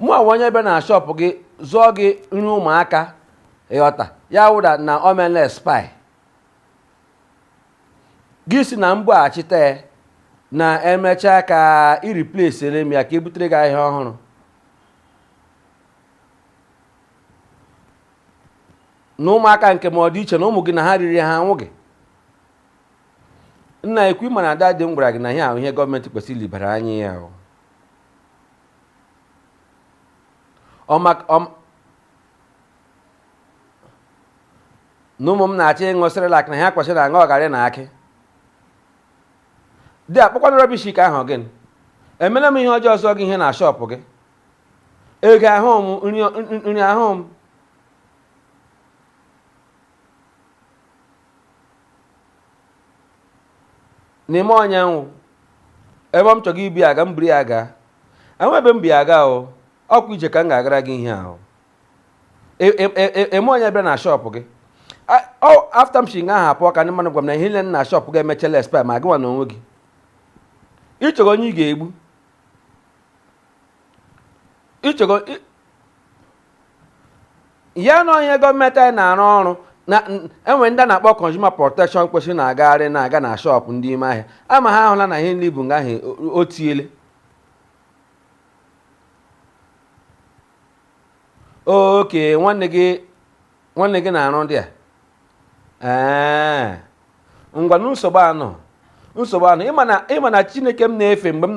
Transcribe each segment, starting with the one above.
mụwa onye bịa na shọpụ gị zụọ gị nri ụmụaka ịghọta ya wụda na o meele expire gị sị na m bughachite ya na emechaa ka i replacere m ya ka ebutere gị ahịa ọhụrụ na ụmụaka nke m ọ dị iche na ụmụ gị na ha riri ha anwụghị nna ekwu ịma na ada dị m gwara gị na ihe a wụ ihe gọọmenti kwesịrị ilebara anya ya wụ na ụmụ m na-achọ ịṅụ Cerelac na ha kwesịrị na-aṅụ garị na akị dị akpọkwana rubbish ka ahụ gị emela m ihe ọjọọ ịzụ gị ihe na shọpụ gị ego ahụ m nri ahụ m n'ime ọnya nwụ ebe m chọrọ ibu ya ga m buru ya gaa enwe ebe m bu ya aga ahụ ọkwa ije ka m ga-agara gị ihe ahụ eme onye bịara na shọpụ gị after m si nga ahụ apụ ka ndị mmadụ gwa m na ihe niile na shọpụ gị emechala expire ma gị nwa na onwe gị ịchọrọ onye ị ga-egbu ịchọrọ ya na ihe gọọmenti anyị na-arụ ọrụ na e nwere ndị a na-akpọ consumer protection kwesịrị na-agagharị na-aga na shọpụ ndị ime ahịa ama ha ahụla na ihe nri bụ nga ahụ o tiele oke nwanne gị nwanne gị na-arụ there ee ngwanụ nsogbu anọ nsogbu anọ ịma na chineke m na-efe mgbe m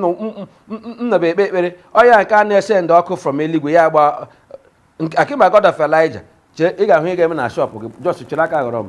nọba ekpe ekpere ọya nke a na-esend ọkụ from eluigwe ya gba akịma God of Elijah chee ị ga-ahụ ihe ga-eme na shọpụ gị just chere aka ghọrọ m